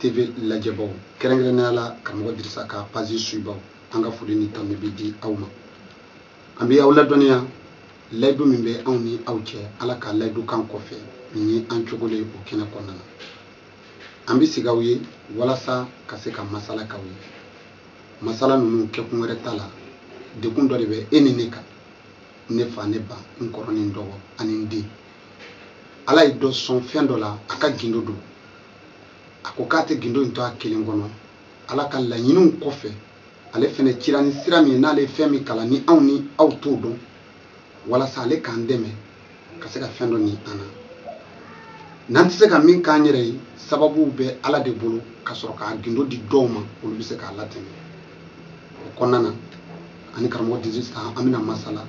TV lajɛbaw kɛrɛnkɛrɛnnenya la karamɔgɔ Dirisa ka page suibaw an ka foli ni tanu bɛ di aw ma an bɛ aw ladɔnniya layidu min bɛ anw ni aw cɛ Ala ka layidu kan kɔfɛ nin ye an cogole o kɛnɛ kɔnɔna na an bɛ sigi aw ye walasa ka se ka masala k'aw ye masala ninnu kɛkun wɛrɛ t'a la dɛgun dɔ de bɛ e ni ne kan ne fa ne ba n kɔrɔ ni n dɔgɔ ani n den Ala ye dɔ sɔn fɛn dɔ la a ka gindo don a ko k'a tɛ gindo in to a kelen kɔnɔ ala ka laɲiniw kɔfɛ ale fɛnɛ cira ni sira min ye n'ale ye fɛn min kalan ni anw ni aw t'o dɔn walasa ale k'an dɛmɛ ka se ka fɛn dɔ nin an na n'an tɛ se ka min k'an yɛrɛ ye sababuw bɛ ala de bolo ka sɔrɔ k'a gindo di dɔw ma olu bɛ se k'a latɛmɛ o kɔnɔna na an ni karamɔgɔ dirisa an bɛna masala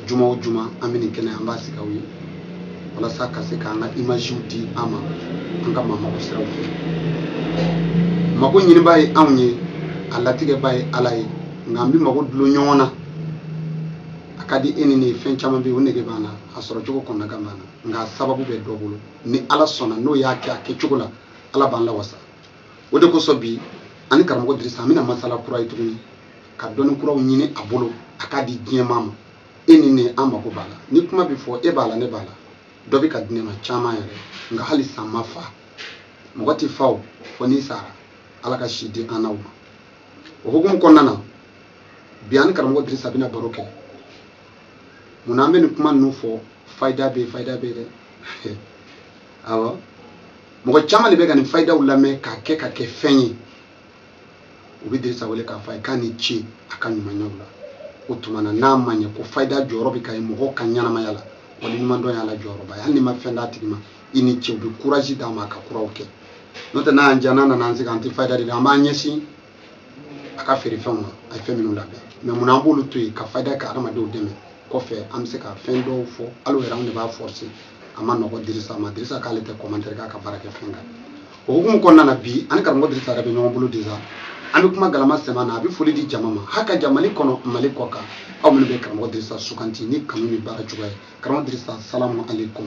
juma o juma an bɛ nin kɛnɛ an b'a sigi aw ye walasa ka se k'an ka imaziw di an ma an ka ma mago siraw fɛ mago ɲinibaa ye anw ye a latigɛbaa ye ala ye nka an bɛ mago dulon ɲɔgɔn na a ka di e ni ne ye fɛn caman bɛ yen o nege b'an na a sɔrɔ cogo kɔnɔnagan b'an na nka a sababu bɛ dɔ bolo ni ala sɔnna n'o y'a kɛ a kɛcogo la ala b'an lawasa o de kosɔn bi an ni karamɔgɔ dirisa an bɛna masala kura ye tuguni ka dɔnni kuraw ɲini a bolo a k'a di diɲɛmaa ma e ni ne an mako b'a la ni kuma bɛ fɔ e b'a la ne b'a la dɔ bɛ ka di ne ma caman yɛrɛ nka halisa n ma fa mɔgɔ tɛ fa o fo n'i sara ala ka si di an n'aw ma o hukumu kɔnɔna na bi an ni karamɔgɔ dirisa bɛna baro kɛ mun na an bɛ nin kuma ninnu fɔ fayida bɛ yen fayida bɛ yen dɛ awɔ mɔgɔ caman de bɛ ka nin fayidaw lamɛn k'a kɛ ka kɛ fɛn ye u bɛ dirisa wele k'a fɔ a ye k'a ni ce a ka ɲumanyaw la o tuma na n'an b'a ye ko fayida jɔyɔrɔ bɛ ka ye mɔgɔw ka ɲɛnamaya la waliɲumandɔn y'a la jɔyɔrɔba ye hali n'i ma fɛn d'a tigi ma i ni ce o bɛ courage d'a ma a ka kuraw kɛ n'o tɛ n'a y'an diya n'an nana an sigi k'an tɛ fayida di dɛ an b'an ɲɛsin a ka feerefɛnw na a ye fɛn minnu labɛn mais munna an b'olu to yen ka fayida ka adamadenw dɛmɛ kɔfɛ an bɛ se ka fɛn dɔw fɔ hali yɛrɛ anw de b'a force a man nɔgɔ dirisa ma dirisa k'ale tɛ commentaire k'a ka baarakɛfɛn kan o hukumu kɔnɔna na bi an ni karamɔgɔ dirisa yɛrɛ bɛ ɲɔgɔn bolo déjà an bɛ kuma galama sɛm'a na a bɛ foli di jama ma a ka jama mali kɔnɔ mali kɔkan aw minnu bɛ karamɔgɔ dirisa sugandi ni kanu ni baara cogoya ye karamɔgɔ dirisa salamu aleykum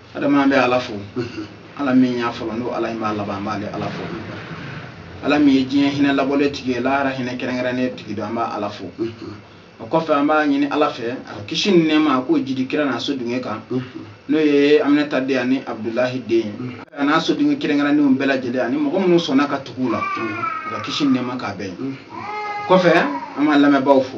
adama bɛ ala fo ala min y'a fɔlɔ n'o ala in b'a laban an b'ale ala fo ala min ye diɲɛ hinɛ labɔlen tigi ye lahara hinɛ kɛrɛnkɛrɛnnen tigi don an b'a ala fo o kɔfɛ an b'a ɲini ala fɛ a ka kisi ni nɛɛma a k'o jidi kira n'a so dunge kan n'o ye aminata den ani abudulahi den ye a n'a so dunge kɛrɛnkɛrɛnnenw bɛɛ lajɛlen ani mɔgɔ minnu sɔnna ka tugu u la a ka kisi ni nɛɛma k'a bɛɛ ye kɔfɛ an b'an lamɛnbaaw fo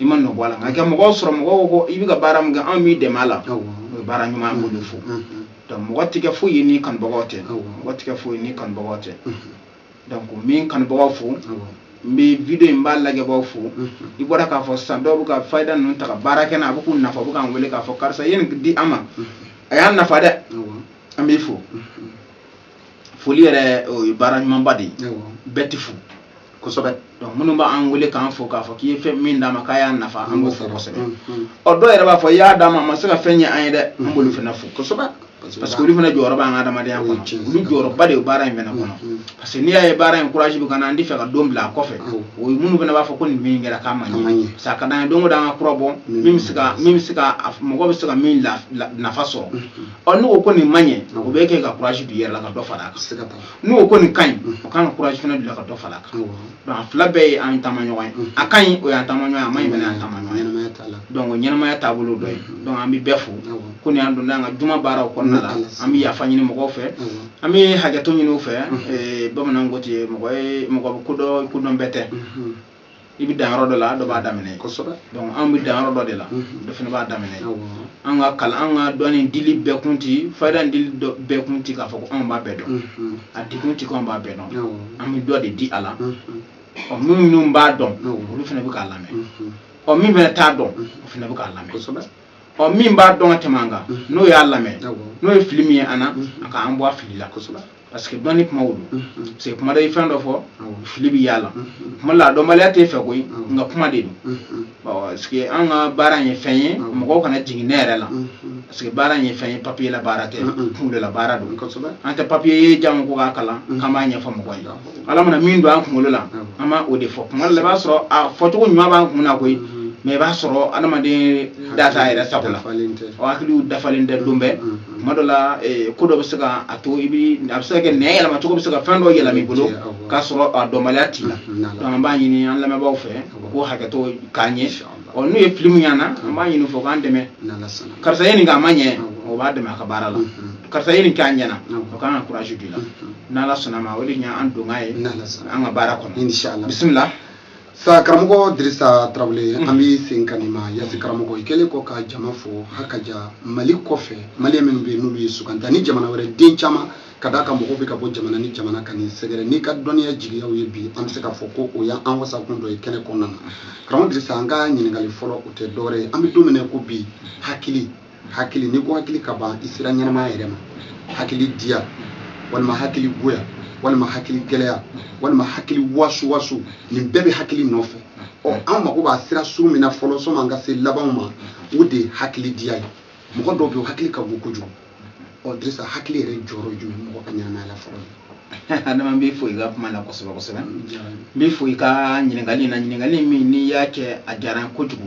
i ma nɔ bɔ a la nka ka mɔgɔw sɔrɔ mɔgɔw ko i bɛ ka baara min kɛ anw b'i dɛmɛ a la o ye baara ɲuman an b'olu fo donc mɔgɔ tɛ kɛ foyi ye ni kanubagaw tɛ mɔgɔ tɛ kɛ foyi ye ni kanubagaw tɛ donc n bɛ n kanubagaw fo n bɛ video in b'a lajɛbaaw fo i bɔra k'a fɔ sisan dɔw bɛ ka fayida ninnu ta ka baara kɛ n'a a bɛ k'u nafa u bɛ k'an wele k'a fɔ karisa i ye nin di an ma a y'an nafa dɛ an b'i fo foli yɛrɛ o ye baara ɲumanba de ye bɛɛ t'i fo kosɛbɛ donc minnu b'an wele k'an fo k'a fɔ k'i ye fɛn min d'an ma k'a y'an nafa an b'o fo kosɛbɛ mm, mm. ɔ dɔw yɛrɛ b'a fɔ i y'a d'an ma a ma se ka fɛn ɲɛ an ye dɛ an b'olu fana fo kosɛbɛ parce que olu fana jɔyɔrɔ b'an ka adamadenya kɔnɔ olu jɔyɔrɔba de ye baara in fana kɔnɔ mm, parce que n'i y'a ye baara in courage bɛ ka na an tɛ fɛ ka don bila a kɔfɛ o ye minnu fana b'a fɔ ko nin min kɛra k'a ma ɲɛ parce que a ka d'an ye don o don an ka kura bɔ min bɛ se ka min bɛ se ka mɔgɔ bɛ se ka min nafa sɔrɔ ɔ n'u ko ko nin ma ɲɛ o bɛ kɛ ka courage don i yɛrɛ la ka dɔ fara a kan n'u ko ko nin ka ɲi o kan ka courage fana don i la ka dɔ fara a kan donc a fila bɛɛ ye an taama ɲɔgɔn ye a ka ɲi o y'an taama ɲɔgɔn ye a man ɲi fana y'an taama ɲɔgɔn ye donc o ɲɛnamaya taabolo dɔ ye donc an bɛ bɛɛ fo ko ni an donna an ka juma baaraw kɔnɔna la an bɛ yafa ɲini mɔgɔw fɛ an bɛ hakɛto ɲini u fɛ bamananw ko ten mɔgɔ ye mɔgɔ ko dɔ ko dɔn bɛɛ tɛ i bɛ dan yɔrɔ dɔ la dɔ b'a daminɛ kosɛbɛ donc an bɛ dan yɔrɔ dɔ de la mhm. dɔ fana b'a daminɛ an ka kalan an ka dɔnni dili bɛɛ kun ti fayida dili bɛɛ kun ti k'a fɔ ko anw b'a bɛɛ dɔn mhm. a di kun ti ko anw b'a bɛɛ dɔn an bɛ dɔ de di a la mhm. ɔ minnu minnu b'a dɔn olu fana bɛ k'a lamɛn ɔ min fana t'a dɔn o fana bɛ k'a lamɛn kosɛbɛ ɔ min b'a dɔn ka tɛmɛ an kan n'o y'a lamɛn n'o ye fili min ye an na a k'an bɔ a fili la kosɛbɛ parce que dɔnni kuma wolo parce que kuma dɔ i fɛn dɔ fɔ fili bɛ y'a la kuma la dɔnbaliya t'i fɛ koyi nka kuma de don parce que an ka baara in ye fɛn ye mɔgɔw kana jigin ne yɛrɛ la parce que baara in ye fɛn ye papier la baara tɛ kunkolo la baara don an tɛ papier ye jango ko k'a kalan k'an b'a ɲɛfɔ mɔgɔ ye ala mana min don an kunkolo la an b'a o de fɔ kuma dɔ la i b'a sɔrɔ a fɔcogo ɲuman b'an kun na koyi mais i b'a sɔrɔ adamaden da t'a yɛrɛ sago la o hakili dafalen tɛ don bɛɛ tuma dɔ la eh, ko dɔ bɛ se ka a to i bi a bɛ se ka kɛ nɛn yɛlɛma cogo bɛ se ka fɛn dɔ yɛlɛma i bolo k'a sɔrɔ a dɔnbaliya t'i la mm-hmm. an b'a ɲini an lamɛnbaaw fɛ u k'o hakɛto k'a ɲɛ ɔ n'u ye fili min y'an na an b'a ɲini u fɛ u k'an dɛmɛ karisa ye nin kɛ a ma ɲɛ o b'a dɛmɛ a ka baara la mm-hmm. karisa ye nin kɛ a ɲɛna o kan ka courage don i la mm-hmm. n'ala sɔnna ma o de ye an donkan ye an ka baara kɔnɔ bisimila sa karamɔgɔ dirisa tarawele an bɛ sen ka nin ma yasi karamɔgɔ i kɛlen kɔ ka jama fo hakaja mali kɔfɛ mali minnu bɛ yen n'olu ye suganta ni jamana wɛrɛ den caman ka d'a kan mɔgɔw bɛ ka bɔ jamana ni jamana ka n'i sɛgɛrɛ n'i ka dɔnniya jigiyaw ye bi an bɛ se k'a fɔ ko o y'an wasakun dɔ ye kɛnɛ kɔnɔna na karamɔgɔ dirisa an ka ɲininkali fɔlɔ o tɛ dɔwɛrɛ ye an bɛ don min na ko bi hakili hakili n'i ko hakili ka ban i sira ɲɛnamaya yɛrɛ ma hakili diya walima hakili goya walima hakili gɛlɛya walima hakili wasu wasu nin bɛɛ bɛ hakili nɔfɛ ɔ an mago b'a sira sugu min na fɔlɔ sani an ka se labanw ma o de ye hakili diya ye mɔgɔ dɔw bɛ yen hakili ka bon kojugu ɔ dirisa hakili yɛrɛ jɔyɔrɔ jumɛn bɛ mɔgɔ ka ɲɛnamaya la fɔlɔ adama n b'i fo i ka kuma na kosɛbɛ kosɛbɛ n b'i fo i ka ɲininkali in na ɲininkali min n'i y'a kɛ a diyara n ye kojugu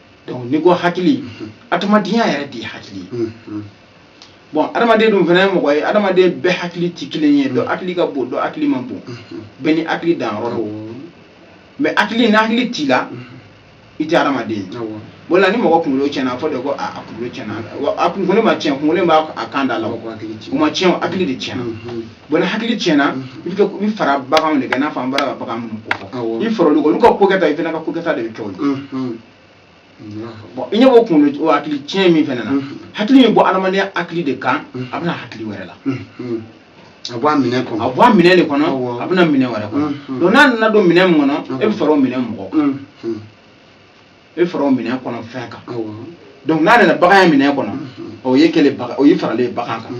donc n'i ko hakili adamadenya yɛrɛ de ye hakili ye bon adamaden dun fana ye mɔgɔ ye adamaden bɛɛ hakili tɛ kelen ye dɔ hakili ka bon dɔ hakili man bon bɛɛ n'i hakili danyɔrɔ don mais hakili ni hakili t'i la i tɛ adamaden ye o la ni mɔgɔ kunkolo tiɲɛna a fɔ de ko a kunkolo tiɲɛna a kunkolo ma tiɲɛ kunkolo b'a a kan da la o ma tiɲɛ hakili de tiɲɛna bon ni hakili tiɲɛna i bɛ i fara baganw de kan n'a fɔ an bɔra ka bagan minnu ko fɔ i far'olu kan olu ka ko kɛta i fana ka ko kɛta de bɛ kɛ o ye bon i ɲɛ b'o kunkolo o hakili tiɲɛ min fana na hakili min bɔ adamadenya hakili de kan a bɛ na hakili wɛrɛ la a bɔ a minɛn kɔnɔ a bɔ a minɛn de kɔnɔ a bɛ na minɛn wɛrɛ kɔnɔ donc n'a nana don minɛn min kɔnɔ e bɛ fara o minɛn mɔgɔ kan e fara o minɛn kɔnɔ fɛn kan donc n'a nana baganya minɛn kɔnɔ o y'i kɛlen bagan o y'i faralen ye bagan kan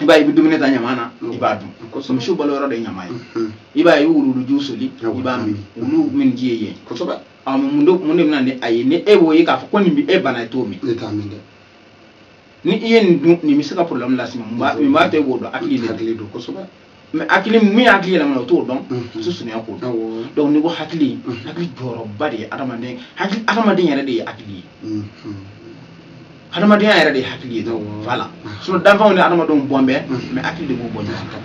i b'a ye i bɛ dumuni ta ɲama na i b'a dun misiw balo yɔrɔ de ye ɲama ye i b'a ye i bɛ wuluwuluji soli i b'a min wulu min ji ye yen kosɛbɛ mun de mun de bɛ na ni a ye ni e y'o ye k'a fɔ ko nin bɛ e bana e t'o min ne t'a min dɛ ni i ye nin dun nin bɛ se ka problème las'i ma mun b'a to e b'o dɔn hakili de don kosɛbɛ mais hakili min hakili yɛlɛmana o t'o dɔn muso sunuya k'o dɔn donc n'i ko hakili hakili jɔyɔrɔba de ye adamaden hakili adamaden yɛrɛ de ye hakili ye adamadenya yɛrɛ de ye hakili ye donc voilà sinon danfɛnw ni adamadenw bɔlen bɛ mais hakili de k'u bɔ ɲɔgɔn na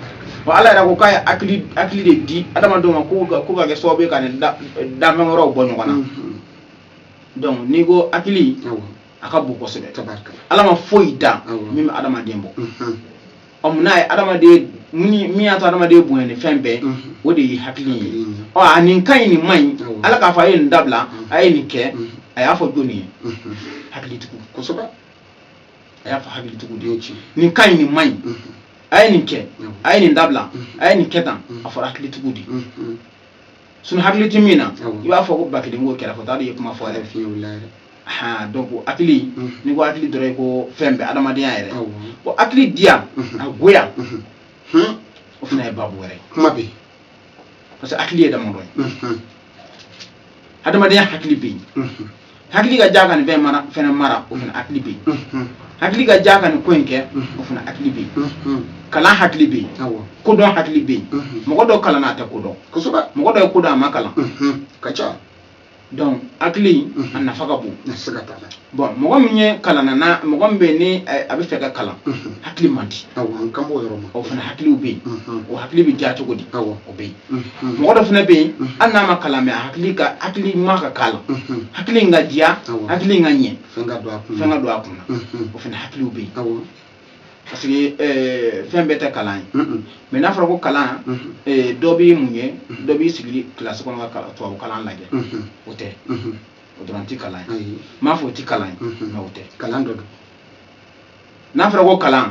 wa ala yɛrɛ ko k'a ye hakili hakili de di adamadenw ma ko k'o ka kɛ sababu ye k'a ni danfɛn wɛrɛw bɔ ɲɔgɔn na donc n'i ko hakili a ka bon kosɛbɛ ala ma foyi dan min bɛ adamaden bɔ ɔ n'a ye adamaden min y'a to adamaden bonya ni fɛn bɛɛ o de ye hakili ye ɔ a nin ka ɲi nin man ɲi ala k'a fɔ a ye nin dabila a ye nin kɛ a y'a fɔ jɔnni ye hakilitigiw kosɛbɛ a y'a fɔ hakilitigiw de ye nin ka ɲi nin man ɲi a ye nin kɛ a ye nin dabila a ye nin kɛ tan a fɔra hakilitigiw de ye sinon hakili tɛ min na i b'a fɔ ko ba kelen ko kɛra fɔ t'a dɔn i ye kuma fɔ yɛrɛ fiyewu la yɛrɛ han donc hakili n'i ko hakili dɔrɔn ye ko fɛn bɛɛ adamadenya yɛrɛ bon hakili diya a goya o fana ye babu wɛrɛ kuma bɛ parce que hakili ye damadɔ ye adamadenya hakili bɛ yen hakili ka diya ka nin fɛn mara fɛnɛ mara o fana hakili bɛ yen hakili ka diya ka nin ko in kɛ o fana hakili bɛ yen kalan hakili bɛ yen kodɔn hakili bɛ yen mɔgɔ dɔ kalanna a tɛ ko dɔn kosɛbɛ mɔgɔ dɔ ye ko dɔn a ma kalan ka ca donc hakili a nafa ka bon siga t'a la bon mɔgɔ min ye kalanna na mɔgɔ min bɛ yen ni a bɛ fɛ ka kalan hakili man di ka bɔ o yɔrɔ ma o fana hakiliw bɛ yen o hakili bɛ diya cogo di o bɛ yen mɔgɔ dɔ fana bɛ yen hali n'a ma kalan mais hakili ka hakili ma ka k'a la hakili in ka diya hakili in ka ɲɛ fɛn ka don a kun na o fana hakiliw bɛ yen parce que eh, fɛn bɛɛ tɛ kalan ye mais n'a fɔra ko kalan eh, dɔ bɛ mun ye dɔ b'i sigili kilasi kɔnɔ ka tubabu kalan lajɛ o tɛ o dɔrɔn tɛ kalan ye n m'a fɔ o tɛ kalan ye mais o tɛ kalan dɔ don n'a fɔra ko kalan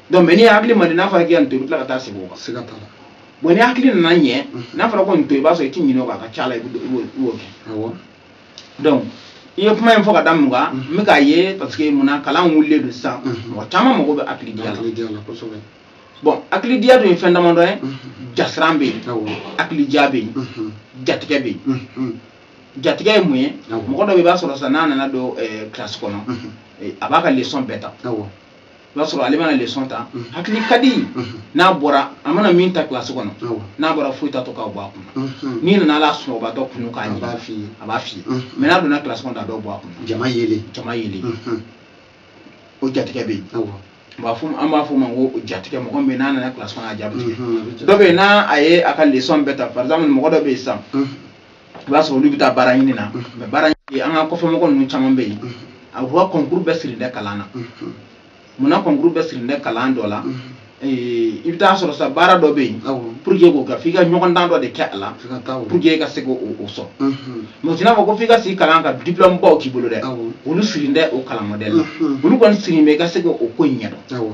donc mais n'i hakili man di n'a fɔra k'i ka nin to i bɛ tila ka taa sigi o kan siga t'a la bon ni hakili nana ɲɛ n'a fɔra ko nin to i b'a sɔrɔ i ti ɲinɛ o kɔ a ka ca la i b'o kɛ donc n ye kuma in fɔ ka da mun kan n bɛ k'a ye parce que mun na kalan wulilen don sisan mɔgɔ caman mago bɛ hakilidiya la bon hakilidiya dun ye fɛn damadɔ ye jasiran bɛ yen hakilidiya bɛ yen jatigɛ bɛ yen jatigɛ ye mun ye mɔgɔ dɔ bɛ i b'a sɔrɔ sisan n'a nana don kilasi kɔnɔ a b'a ka leçon bɛɛ ta o b'a sɔrɔ ale mana leçon ta mhm. hakili ka di mhm. n'a bɔra a mana min ta kilasi kɔnɔ n'a bɔra foyi t'a to k'a bɔ a kunna mhm. n'i nana hali a sunɔgɔbatɔ kunun k'a ɲini a b'a f'i ye mais n'a donna kilasi kɔnɔ a dɔw bɔ a kunna jama yelen jama yelen o jatigɛ bɛ yen b'a fɔ an b'a fɔ o ma ko jatigɛ mɔgɔ min bɛ n'a nana kilasi kɔnɔ a ja bɛ tigɛ dɔ bɛ yen n'a a ye a ka leçon bɛɛ ta par exemple mɔgɔ dɔ bɛ yen sisan i b'a sɔrɔ olu bɛ taa baara ɲini na mais baara ɲini an ka kɔfɛmɔgɔ ninnu caman bɛ yen a b'u ka concours bɛɛ sirilen tɛ kalan na munna concours bɛɛ sirilen tɛ kalan dɔ la i bɛ taa sɔrɔ sa baara dɔ bɛ yen pour que i k'o kɛ f'i ka ɲɔgɔndan dɔ de kɛ a la pour que i ka se k'o sɔrɔ mais o tɛna kɛ ko f'i ka sigi kalan ka diplôme baw k'i bolo dɛ olu sirilen tɛ o kalan modèle la olu kɔni sirilen bɛ i ka se k'o ko in ɲɛdɔn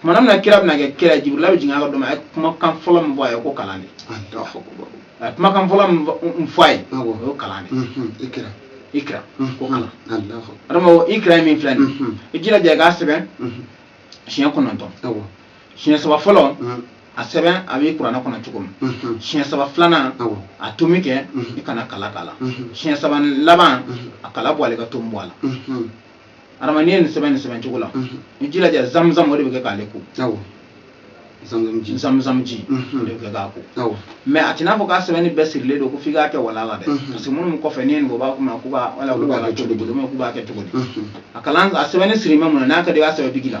tumana min na kira bɛna kɛ kira jibirila bɛ jigin a ka dɔ ma a ye kumakan fɔlɔ min fɔ a ye ko kalan de a ye kumakan fɔlɔ min fɔ a ye o ye kalan de ye ikira ikira ko kalan adama ikira ye min filɛ nin ye i jilaja i k'a sɛbɛn siɲɛ kɔnɔntɔn siɲɛ saba fɔlɔ a sɛbɛn a bɛ kuranɛ kɔnɔ cogo min mhm. siɲɛ saba filanan a tomi kɛ mhm. i kana kala k'a la mhm. siɲɛ saba laban a kala bɔ a la ka tomi bɔ a la adama n'i ye nin sɛbɛn nin sɛbɛn cogo la i jilaja zamzam o de bɛ kɛ k'ale ko zamzam ji de bɛ kɛ k'a ko mais a tɛna fɔ k'a sɛbɛnni bɛɛ sirilen don ko f'i k'a kɛ wala la dɛ parce que minnu kɔfɛ n'i ye nin ko b'a kuma k'u b'a wala k'u b'a kɛ cogo di k'u b'a kɛ cogo di a kalan a sɛbɛnni sirilen bɛ mun na n'a ka di i b'a sɛbɛn biki la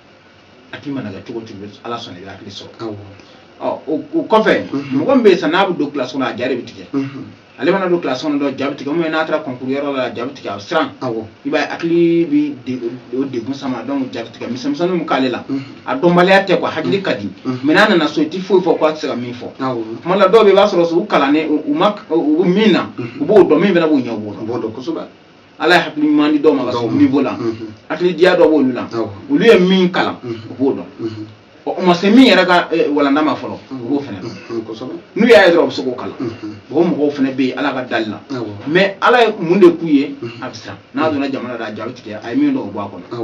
a tigi mana kɛ cogo o cogo ala sɔnna i bɛ hakili sɔrɔ o kɔfɛ mɔgɔ min bɛ yen sisan n'a bɛ don kilasi kɔnɔ a ja de bɛ tigɛ ale mana don kilasi kɔnɔ dɔrɔn ja bɛ tigɛ ubiyɛn n'a taara kɔnkuru yɔrɔ la ja bɛ tigɛ a bɛ siran i b'a ye hakili bɛ o degun sama dɔnku ja bɛ tigɛ misɛnmisɛnninw bɛ k'ale la a dɔnbaliya tɛ kuwa hakili ka di mɛ n'a nana so i tɛ foyi fɔ k'a tɛ se ka min fɔ tuma la dɔw bɛ i b'a sɔrɔ u kalannen u bɛ min na u b'o dɔn min fana b'u ɲɛ u b'o dɔn kosɛbɛ ala ye hakili ɲuman di dɔw ma ka sɔrɔ niveau la hakili diya dɔ b'olu la olu ye min kalan u b'o dɔn u ma se min yɛrɛ ka walanda ma fɔlɔ u b'o fɛnɛ dɔn n'u y'a ye dɔrɔn u bɛ se k'o kalan o mɔgɔw fɛnɛ bɛ yen ala ka dali la mɛ ala ye mun de k'u ye a bɛ siran n'a donna jama na dɔrɔn a ja bɛ tigɛ a ye min dɔn o bɔ a kɔnɔ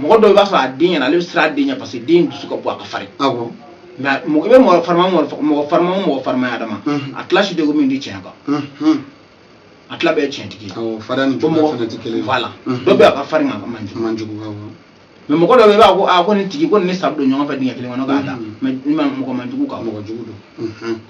mɔgɔ dɔw i b'a sɔrɔ a den ɲɛ na ale bɛ siran a den ɲɛ parce que den dusu ka bon a ka farin awɔ mɛ a- mɔgɔ i bɛ mɔgɔ farima o mɔgɔ fa- mɔgɔ farima o mɔgɔ farima adama Mhm. a tila si tɛ ko min di tiɲɛ kan Mhm. a tila bɛɛ ye tiɲɛtigi ye awɔ farinya ni Ko juguya mɔgɔ- fana tɛ kelen ye. voilà Mhm. dɔ bɛ a ka farin nka a man jugu man jugu awɔ mɛ mɔgɔ dɔ bɛ yen i b'a fɔ ko aa ko nin tigi ko nin ni sa bɛ don ɲɔgɔn fɛ dingɛ kelen kɔnɔ ka da Mhm. mɛ ni ma mɔgɔ man jugu nka mɔgɔ jugu don Mhm.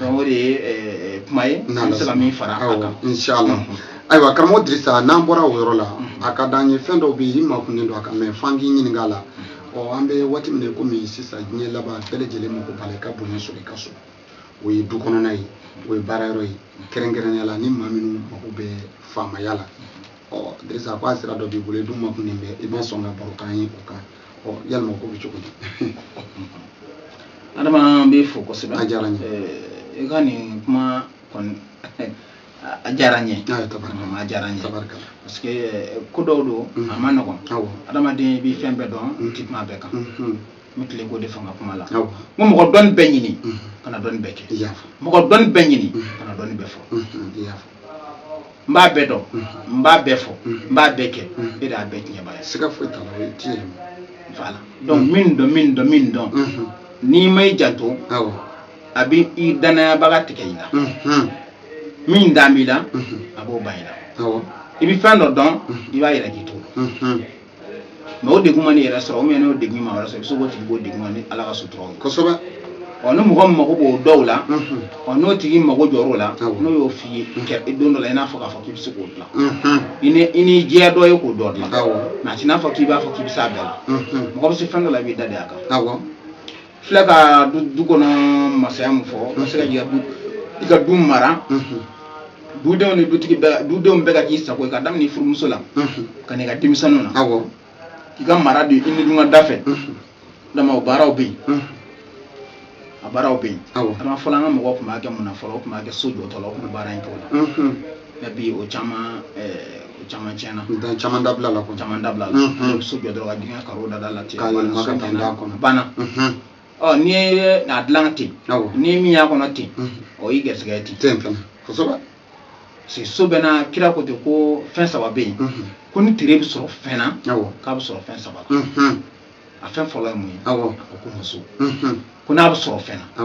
o de ye eh, eh, kuma ye n bɛ se ka min fara a kan inshallah ayiwa karamɔgɔ dirisa n'an bɔra o yɔrɔ la a ka d'an ye fɛn dɔw bɛ yen i makunnen don a kan mɛ f'an k'i ɲininka a la ɔ an bɛ waati min na komi sisan diɲɛ laban bɛɛ lajɛlen mako b'a la i ka bonya sɔrɔ i ka so o ye du kɔnɔna ye o ye baara yɔrɔ ye kɛrɛnkɛrɛnnenya la ni maa minnu mako bɛ faamaya la ɔ dirisa ko a sira dɔ b'i bolo i dun makunnen bɛ i bɛ sɔn ka baro k'an ye o kan ɔ yalima ko bɛ cogo di adama n b'i fo kosɛbɛ a diyara n ye i ka nin kuma kɔni a diyara n ye a diyara n ye parce que eh, ko dɔw don mm-hmm. a ma nɔgɔn adamaden i bɛ fɛn bɛɛ dɔn i tɛ kuma bɛɛ kan mm-hmm. n bɛ tile k'o de fɔ n ka kuma la n ko mɔgɔ dɔnni bɛɛ ɲini mm-hmm. kana dɔnni bɛɛ kɛ mɔgɔ dɔnni bɛɛ ɲini kana dɔnni bɛɛ fɔ n b'a bɛɛ dɔn n b'a bɛɛ fɔ n b'a bɛɛ kɛ e de y'a bɛɛ tiɲɛbaa ye siga foyi t'a la o ye tiɲɛ ye voilà donc min dɔn min dɔn min dɔn n'i ma i janto awɔ a bɛ i dannayabaga tigɛ i la min dan b'i la a b'o ban i la awɔ i bɛ fɛn dɔ dɔn i b'a yira k'i t'o mɛ o degun mana i yɛrɛ sɔrɔ o mɛ n'o degun maa wɛrɛ sɔrɔ i bɛ se k'o tigi b'o degun ma ni ala ka sutura ye kosɛbɛ ɔ ni mɔgɔ min mago b'o dɔw la ɔ n'o tigi mago jɔr'o la n'o y'o f'i ye kɛ don dɔ la i n'a fɔ k'a fɔ k'i bɛ se k'o dilan i ni i ni jɛya dɔ ye k'o dɔ dilan mɛ a t'i n'a fɔ k'i b'a fɔ k'i bɛ s'a bɛɛ la mɔgɔ bɛ se fɛn dɔ la i b'i da de a kan filɛ ka du du kɔnɔ masaya min fɔ n bɛ se ka jigin du i ka du mara dudenw ni dutigi bɛɛ dudenw bɛɛ ka k'i sago ye ka daminɛ i furumuso la ka n'i ka denmisɛnninw na awɔ k'i ka mara don i ni dun ka da fɛ adama o baaraw bɛ yen a baaraw bɛ yen Awɔ. adama fɔlɔ an ka mɔgɔw tun b'a kɛ mun na fɔlɔ u tun b'a kɛ so jɔtɔ la u tun bɛ baara in kɛ o la mɛ bi o caman ɛɛ, o caman tiɲɛna dan caman dabilala ko caman dabilala ne bɛ so jɔ dɔrɔn ka dingɛ karo dada la ten ka yɛlɛma ka taa d'a kɔnɔ banna ɔ n'i ye a dilan ten ni min y'a kɔnɔ ten o y'i gɛrisigɛ ten ten fana kosɛbɛ parce so bɛɛ na kira ko ten ko fɛn saba bɛ yen ko ni tere bɛ sɔrɔ fɛn na k'a bɛ sɔrɔ fɛn saba la a fɛn fɔlɔ ye mun ye a ko ko muso ko n'a bɛ sɔrɔ fɛn na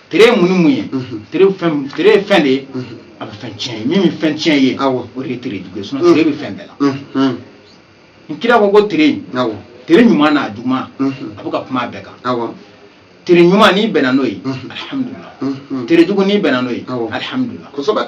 tere ye mun ni mun ye tere ye fɛn tere ye fɛn de ye a bɛ fɛn tiɲɛ ye min bɛ fɛn tiɲɛ ye Awɔ. o de ye tere jugu ye sinɔn tere bɛ fɛn bɛɛ la Mhm. n kira ko ko tere in Awɔ. tere ɲuman n'a juguman Mhm. a bɛ ka kuma a bɛɛ kan Awɔ. tere ɲuman n'i bɛnna n'o ye Mhm. alihamudulila Mhm. tere jugu n'i bɛnna n'o ye Awɔ. alihamudulila Kosɛbɛ.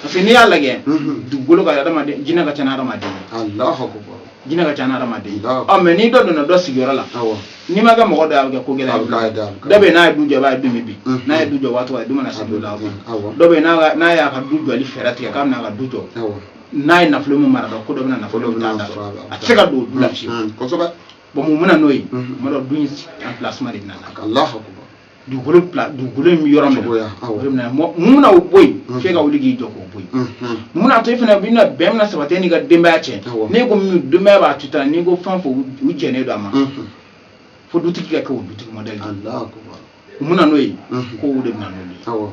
parce que n'i y'a lajɛ dugukolo kan hadamaden jinɛ ka ca ni hadamaden jinɛ ka ca ni hadamaden ɔ mɛ ni dɔ donna dɔ sigiyɔrɔ la n'i ma kɛ mɔgɔ dɔ a bɛ kɛ ko gɛlɛn dɔ bɛ n'a ye du jɔ a b'a ye du min bi n'a ye du jɔ waati a du mana se du la dɔ bɛ n'a y'a ka du jɔli fɛɛrɛ tigɛ k'a bɛna a ka du jɔ n'a ye nafolo min mara dɔn ko dɔ bɛna nafolo min mara a tɛ se ka don du la fiyewu bɔn mun bɛ na n'o ye mɔgɔ dɔ du in emplacement de bɛna na dugukolo dugukolo in bɛ yɔrɔ min na o bɛ mun na o bɔ yen mm. f'e ka wuli k'i jɔ k'o bɔ yen mm, mm. mun n'a to e fana bɛna bɛn bɛna sabati e n'i ka denbaya cɛ n'e ko min denbaya b'a tuta n'i ko fɛn o fɛn u jɛnnen don a ma fo dutigi ka kɛ o dutigi mɔdɛli mun na n'o ye kow de bɛ na n'o ye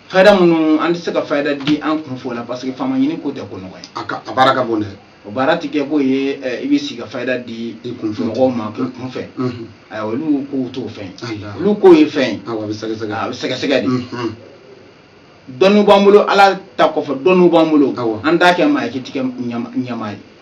fayida minnu an tɛ se ka fayida di an kunfɛ la parce que faama ɲini ko tɛ ko nɔgɔ ye a ka a baara ka bon dɛ o baara ti kɛ k'o ye i bɛ sigi ka fayida di mɔgɔw ma k'u kunfɛ ayiwa olu kow t'o fɛn ye olu kow ye fɛn ye a bɛ sɛgɛsɛgɛ a bɛ sɛgɛsɛgɛ de dɔnniw b'an bolo ala ta kɔfɛ dɔnniw b'an bolo an t'a kɛ maa ye k'i tɛ kɛ ɲɛmaa ye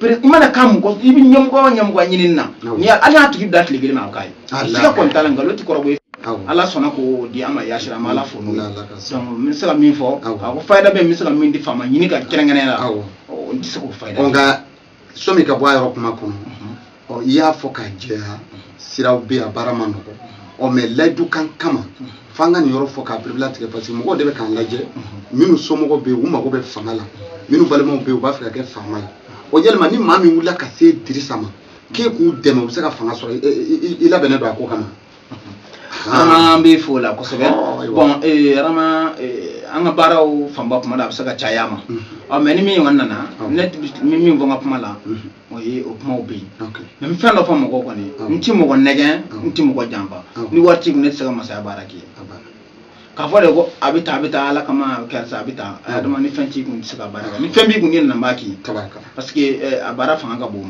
i mana ka mɔgɔ i bɛ ɲɛmɔgɔ o ɲɛmɔgɔ ɲinini na ni ala y'a tigi bila tile kelen ma o k'a ye siga kɔni t'a la nkalon tɛ kɔrɔbɔ ye ala sɔnna k'o di an ma yasira an bɛ ala fo n'o ye dɔnku n bɛ se ka min fɔ a ko fayida bɛ n bɛ se ka min di faama ɲini kan kɛrɛnkɛrɛnnenya la n tɛ se k'o fayida nka sɔmi ka bɔ a yɔrɔ kuma kɔnɔ ɔ i y'a fɔ ka jɛya siraw bɛ yen a baara ma nɔgɔ ɔ mɛ layidu kan kama f'an ka nin yɔrɔ fɔ k'a pereperelatigɛ parce que mɔgɔw de bɛ k'an lajɛ minnu somɔgɔw bɛ yen u mago bɛ fanga la minnu balimaw bɛ yen u b'a fɛ ka kɛ faama ye o yɛlɛma ni maa min wulila ka se dirisa ma k'e k'u dɛmɛ u bɛ se ka fanga sɔrɔ i labɛnnen don a ko kama arama an b'i fo la kosɛbɛ bɔn arama an ka baaraw fanba kuma la a bɛ se ka caya ma ɔ mɛ ni min kɔni nana ne min fɔ n ka kuma la o ye o kumaw bɛ yen mɛ n bɛ fɛn dɔ fɔ mɔgɔw kɔni n tɛ mɔgɔ nɛgɛn n tɛ mɔgɔ janfa ni wari t'i kun ne tɛ se ka masaya baara k'i ye k'a fɔ de ko a bɛ taa a bɛ taa ala kama a bɛ karisa a bɛ taa a dama ni fɛn t'i kun tɛ se ka baara kɛ ni fɛn b'i kun ne nana b'a k'i parce que a baara fanga ka bon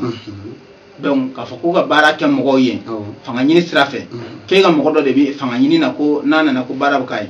dɔnku k'a fɔ k'u ka baara kɛ mɔgɔw ye fanga ɲini sira fɛ k'e ka mɔgɔ dɔ de bɛ fanga ɲini na ko n'a nana ko baara bɛ k'a ye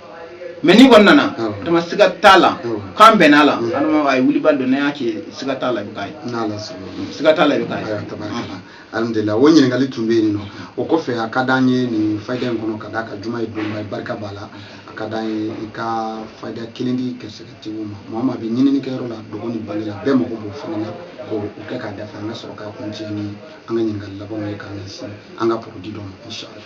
mais n'i kɔni nana adama siga t'a la k'an bɛn'a la adama a ye wulibali don n'a y'a kɛ siga t'a la i bɛ k'a ye siga t'a la i bɛ k'a ye alhamdulilah o ɲininkali tun bɛ yen nɔ o kɔfɛ a ka d'an ye nin fayida in kɔnɔ ka d'a kan juma ye donba ye barika b'a la a ka d'an ye i ka fayida kelen di gɛrɛsɛgɛtigiw ma maa o maa bɛ ɲinini kɛyɔrɔ la dɔgɔ ni bali la bɛɛ mago b'o fana na k'o kɛ k'a dafa an ka sɔrɔ k'a kuncɛ ni an ka ɲininkali labanw ye k'an ɲɛsin an ka produit dɔ ma inshallah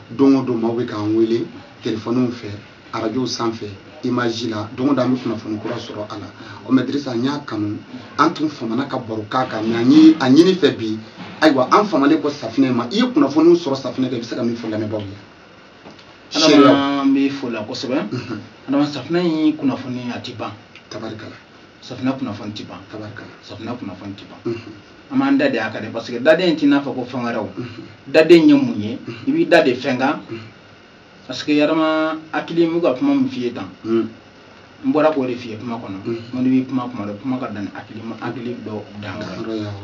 don o don maaw bɛ k'an wele telefɔniw fɛ arajow sanfɛ imaji la don o don an bɛ kunnafoni kura sɔrɔ a la o mais dirisa n y'a kanu an tun famana ka baro k'a kan mais an ye a ɲini i fɛ bi ayiwa an famalen kɔ safinɛ ma i ye kunnafoniw sɔrɔ safinɛ kan i bɛ se ka min fɔ lamɛnbaaw ye adama n b'i fo o la kosɛbɛ adama safinɛ ye kunnafoni a tɛ ban tabarikala safinɛ kunnafoni tɛ ban tabarikala safinɛ kunnafoni tɛ ban an b'an da de a kan dɛ parce que daden in t'i n'a fɔ ko fɛn wɛrɛw daden ye mun ye i b'i da de fɛn kan parce que yɛrɛma hakili n bɛ ka kuma min f'i ye tan n bɔra k'o de f'i ye kuma kɔnɔ n ko n'i bɛ kuma kuma dɔ kuma ka dan ni hakili ma hakili dɔ dan kan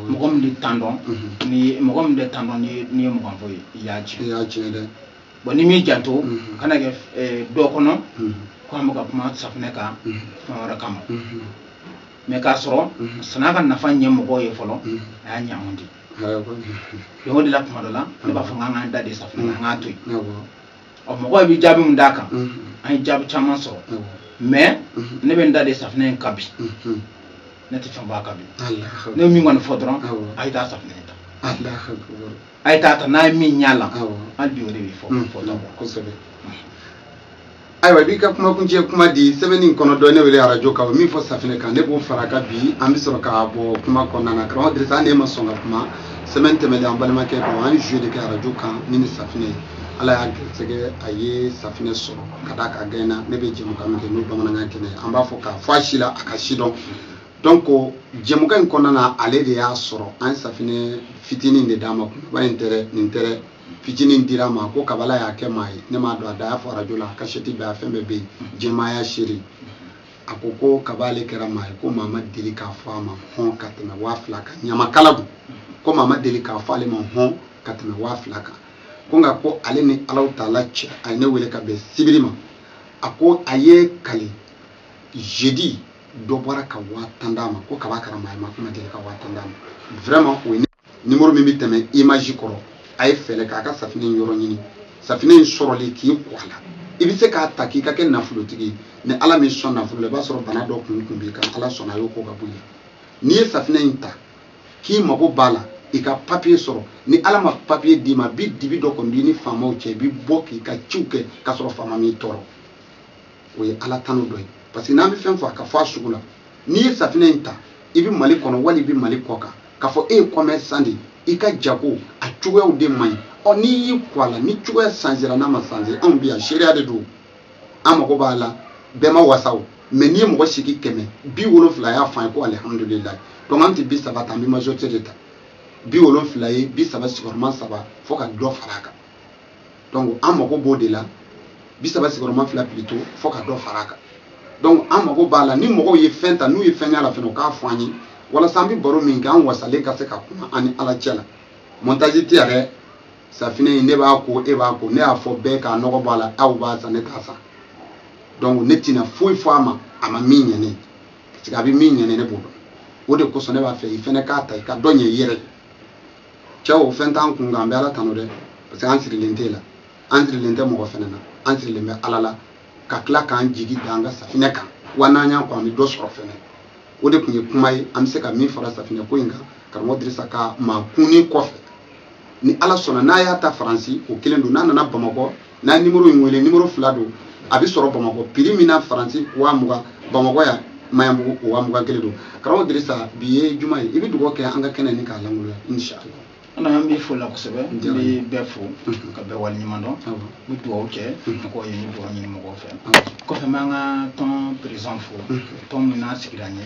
mɔgɔ min bɛ dan dɔn n'i ye mɔgɔ min bɛ dan dɔn n'i ye n'i ye mɔgɔ fɔ ye i y'a tiɲɛ i y'a tiɲɛ dɛ bon n'i m'i janto kana kɛ dɔ kɔnɔ ko an bɛ ka kuma safunɛ kan fɛn wɛrɛ kama mais k'a sɔrɔ mhm. san'a ka nafa ɲɛ mɔgɔw ye fɔlɔ mhm. a y'a ɲɛ anw de ye o de la kuma dɔ la ne b'a fɔ n k'an k'an da de safinɛ na an k'a to yen ɔ mɔgɔw bɛ jaabi min d'a kan mhm. an ye jaabi caman sɔrɔ mais ne bɛ n da de safinɛ in kan bi ne tɛ fɛn fɔ a kan bi ne ye min kɔni fɔ dɔrɔn a ye taa safinɛ in ta a ye taa ta n'a ye min y'a la an bi o de bɛ fɔ fɔlɔ kosɛbɛ ayiwa i b'i ka kumakuncɛ kuma di semaine in kɔnɔ dɔ ne wele arajo kan o min fɔ safinɛ kan ne b'o fara a kan bi an bɛ sɔrɔ k'a bɔ kuma kɔnɔna na karamɔgɔ dirisa hali ne ma sɔn ka kuma semaine tɛmɛnen an balimakɛ dɔ an ye jeu de kɛ arajo kan ni ni safinɛ ye ala y'a gɛrɛsɛgɛ a ye safinɛ sɔrɔ ka d'a ka gɛn na ne bɛ jɛmukan min kɛ n'o bamanankan kɛnɛ ye an b'a fɔ k'a fɔ a si la a ka si dɔn donc jɛmukan in kɔnɔna na ale de y'a sɔrɔ an ye safinɛ fitinin de d'a ma kunba in tɛ dɛ nin tɛ dɛ fitinin dir'a ma ko kab'ala y'a kɛ maa ye ne m'a dɔn a da y'a fɔ arajo la kasɛti bɛ a fɛn bɛɛ bɛ yen jama y'a seere a ko ko kaba ale kɛra maa ye ko maa ma deli k'a fɔ a ma hɔn ka tɛmɛ waa fila kan ɲamakala don ko maa ma deli k'a fɔ ale ma hɔn ka tɛmɛ waa fila kan ko nka ko ale ni ala taala cɛ a ye ne wele ka bɛn sibiri ma a ko a ye kali jeudi dɔ bɔra ka waa tan d'a ma ko kab'a kɛra maa ye mɔgɔ ma deli ka waa tan d'a ma vraiment o ye nimoro min bɛ tɛmɛ image kɔrɔ a ye fɛɛrɛ k'a ka safinɛ in yɔrɔ ɲini safinɛ in sɔrɔli k'i ko a la i bɛ se k'a ta k'i ka kɛ nafolotigi ye ni ala m'i sɔn nafolo la i b'a sɔrɔ bana dɔ kun b'i kan ala sɔnna a y'o ko ka bɔ yen n'i ye safinɛ in ta k'i mago b'a la i ka papiye sɔrɔ ni ala ma papiye d'i ma bi dibi dɔ kɔni b'i ni faamaw cɛ i bɛ bɔ k'i ka ciw kɛ k'a sɔrɔ faama m'i tɔɔrɔ o ye ala tanu dɔ ye parce que n'an bɛ fɛn fɔ a ka fɔ a sugu la n'i ye safinɛ in ta i bɛ mali kɔnɔ wali i bɛ mali kɔ kan k'a fɔ e ye kɔmɛrisan de ye i ka jago a cogoyaw de man ɲi ɔ n'i y'i ko a la ni cogoya sanzira n'a ma sanze anw bɛ yan seereya de don an mago b'a la bɛɛ ma wasa o mais n'i ye mɔgɔ sigi kɛmɛ bi wolonfila y'a fɔ an ye ko alihamudulilayi donc an tɛ bi saba ta an bɛ majorité de ta bi wolonfila ye bi saba sigiyɔrɔma saba fo ka dɔ fara a kan donc an mago b'o de la bi saba sigiyɔrɔma fila plutôt fo ka dɔ fara a kan donc an mago b'a la ni mɔgɔw ye fɛn ta n'u ye fɛn y'a la fɛnɛ u k'a fɔ an ye walasa an bɛ baro min kɛ an wasalen ka se ka kuma an ni ala cɛ la montage tɛ yɛrɛ safinɛ in ne b'a ko e b'a ko ne y'a fɔ bɛɛ k'a nɔgɔ b'a la aw b'a san ne t'a san donc ne tɛna foyi fɔ a ma a ma min ɲɛ ne parce que a bɛ min ɲɛ ne ne b'o dɔn o de kosɔn ne b'a fɛ i fɛnɛ k'a ta i ka dɔ ɲɛ i yɛrɛ ye cɛ o fɛn t'an kun kan an bɛ ala tanu dɛ parce que an sirilen t'e la an sirilen tɛ mɔgɔ fɛnɛ na an sirilen bɛ ala la ka tila k'an jigi da an ka safinɛ kan wa n'an y'an ko an bɛ dɔ sɔrɔ fɛnɛ o de tun ye kuma ye an bɛ se ka min fara safinɛ ko in kan karamɔgɔ dirisa ka maakunni kɔfɛ ni ala sɔnna n'a y'a ta faransi o kelen don n'a nana bamakɔ n'a nimoro in wele nimoro fila don a bɛ sɔrɔ bamakɔ piri min na faransi waa mugan bamakɔ yan maɲanbugu waa mugan kelen don karamɔgɔ dirisa bi ye juma ye i bɛ dugawu kɛ an ka kɛnɛ ni k'a lankoloya inshallah an an b'i fo la kosɛbɛ n bɛ bɛɛ fo ka bɛɛ wale ɲuman dɔn n bɛ dugawu kɛ mɔgɔw ye n bɛ dugawu ɲini mɔgɔw fɛ kɔfɛ n b'an ka tɔn perezan fo tɔn min n'a sigira n ye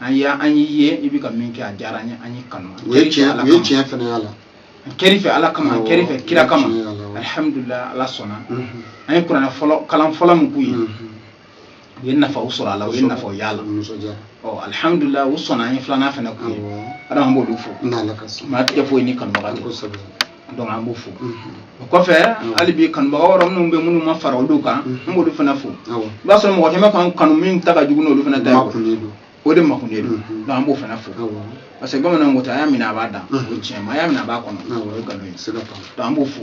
an y'a an y'i ye i bɛ ka min kɛ a diyara an ye an y'i kanu o ye tiɲɛ o ye tiɲɛ fana y'a la a kɛr'i fɛ ala kama a kɛr'i fɛ kira kama alihamudulila ala sɔnna an ye kuranɛ fɔlɔ kalan fɔlɔ min k'u ye u ye nafaw sɔrɔ a la u ye nafaw y'a la ɔ alihamudulila u sɔnna an ye filanan fana k'u ye adama b'olu fo maa tɛ foyi ni kanubaga tɛ donc an b'u fo o kɔfɛ hali bi kanubaga wɛrɛ minnu bɛ minnu ma fara olu kan n b'olu fana fo i b'a sɔrɔ mɔgɔ caman k'an kanu min ta ka jugu n'olu fana ta ye o de makunnen don donc an b'o fana fo parce que bamananw ko ten a y'a minɛ a b'a da o ye tiɲɛ ma a y'a minɛ a b'a kɔnɔ o ye nkalon ye donc an b'o fo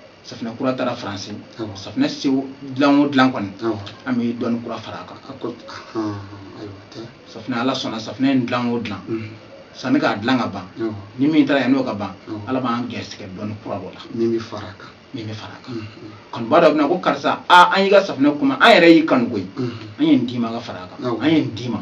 safinɛ kura taara faransi safinɛ si dilan o dilan kɔni an bɛ dɔnni kura fara a kan safinɛ ala sɔnna safinɛ in dilan o dilan mhm. sanni k'a dilan ka ban ni min taara yan n'o ka ban ala b'an gɛrɛsɛgɛ dɔnni kura dɔ la min bɛ fara a kan min bɛ fara a kan mhm. kanuba dɔ bɛna ko karisa aa an y'i ka safinɛ kuma an yɛrɛ y'i kanu koyi mhm. an ye nin d'i ma ka fara a kan an ye nin d'i ma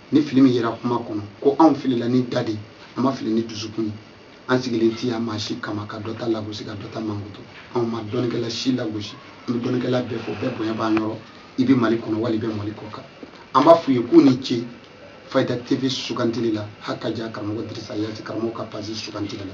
ni fili min yera kuma kɔnɔ ko anw filila ni da de an ma fili ni dusukun ye an sigilen ti yan maa si kama ka dɔ ta lagosi ka dɔ ta mankutu anw ma dɔnnikɛla si lagosi an bɛ dɔnnikɛla bɛɛ fo bɛɛ bonya b'an yɔrɔ i bɛ mali kɔnɔ wali i bɛ mali kɔ kan an b'a f'u ye k'u ni ce fayida tv sugantili la hakaja karamɔgɔ dirisa yati karamɔgɔ ka pazi sugantili la